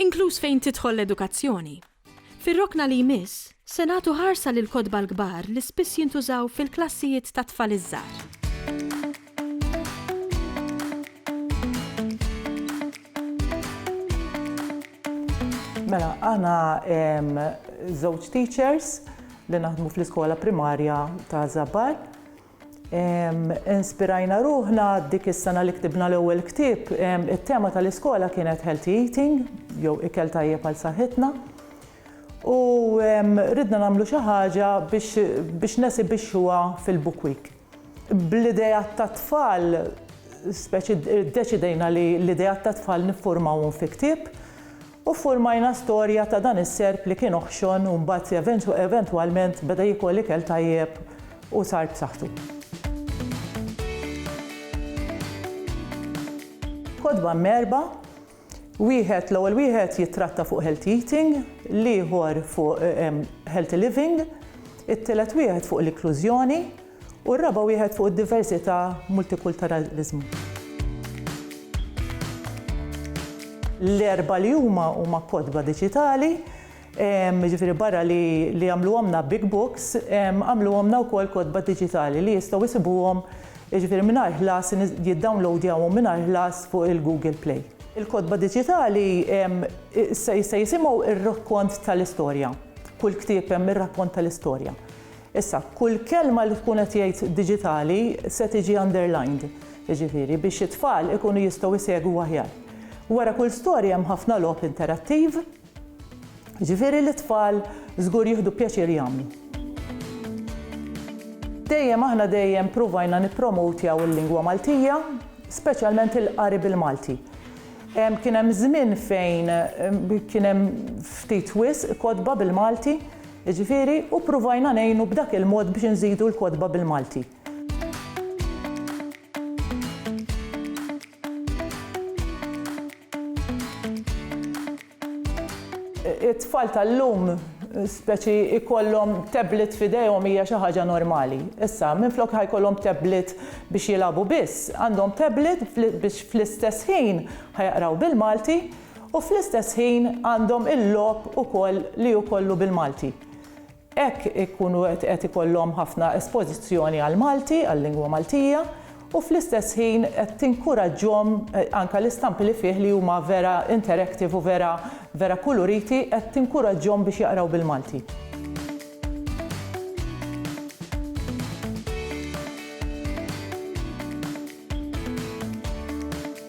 inkluż fejn tidħol l-edukazzjoni. Fir-rokna li jmiss, se nagħtu ħarsa lill-kotba l-kbar li spiss jintużaw fil-klassijiet tat-tfal iż-żgħar. Mela, aħna żewġ teachers li naħdmu fl-iskola primarja ta' Żabbar. Inspirajna ruħna dik is-sena li ktibna l-ewwel ktieb, it-tema tal-iskola kienet healthy eating jew ikel tajjeb għal saħħitna. U ridna nagħmlu xi ħaġa biex nesibixxuha fil-Book Week. Bl-ideat tat-tfal, speċi ddeċidejna li l-ideat tat-tfal niffurmawhom fi ktieb U ffurmajna storja ta' dan is-serp li kien oħxon u mbagħad eventwalment beda jiekol ikel tajjeb u sar b'saħħtu. Kotba mgħerrba, wieħed, l-ewwel wieħed jittratta fuq healthy eating, l-ieħor fuq healthy living, it-tielet wieħed fuq l-inklużjoni, U r-raba' wieħed fuq id-diversità, multikulturaliżmu. L-erba' li huma huma kotba diġitali, jiġifieri barra li li għamluhomlna Big Books, għamluhomlna wkoll kotba diġitali li jistgħu jsibuhom jiġifieri mingħajr ħlas, jiddownloadjawhom mingħajr ħlas fuq il-Google Play. Il-kotba diġitali se jisimgħu r-rakkont tal-istorja. Kull ktieb hemm ir-rakkont tal-istorja. Issa, kull kelma li tkun qed jgħid diġitali se tiġi underlined, jiġifieri biex it-tfal ikunu jistgħu jsegwu aħjar. Wara kull storja hemm ħafna logħob interattiv, jiġifieri li t-tfal żgur jieħdu pjaċir jagħmlu. Dejjem aħna dejjem pruvajna nippromotjaw il-lingwa Maltija, speċjalment il-qari bil-Malti. Kien hemm żmien fejn kien hemm ftit wisq kotba bil-Malti, Jiġifieri, u ppruvajna ngħinu b'dak il-mod biex inżidu l-kotba bil-Malti. It-tfal tal-lum speċi jkollhom tablet f'idejhom hija xi ħaġa normali. Issa, minflok ħa jkollhom tablet biex jilagħbu biss, għandhom tablet biex fl-istess ħin ħa jaqraw bil-Malti, U fl-istess ħin għandhom il-logħob ukoll li hu kollu bil-Malti. Hekk ikunu qed ikollhom ħafna espożizzjoni għall-Malti, għal-lingwa Maltija, u fl-istess ħin qed tinkuraġġhom anke l-istampi li fih li huma vera interactive u vera vera kuluriti qed tinkuraġġhom biex jaqraw bil-Malti.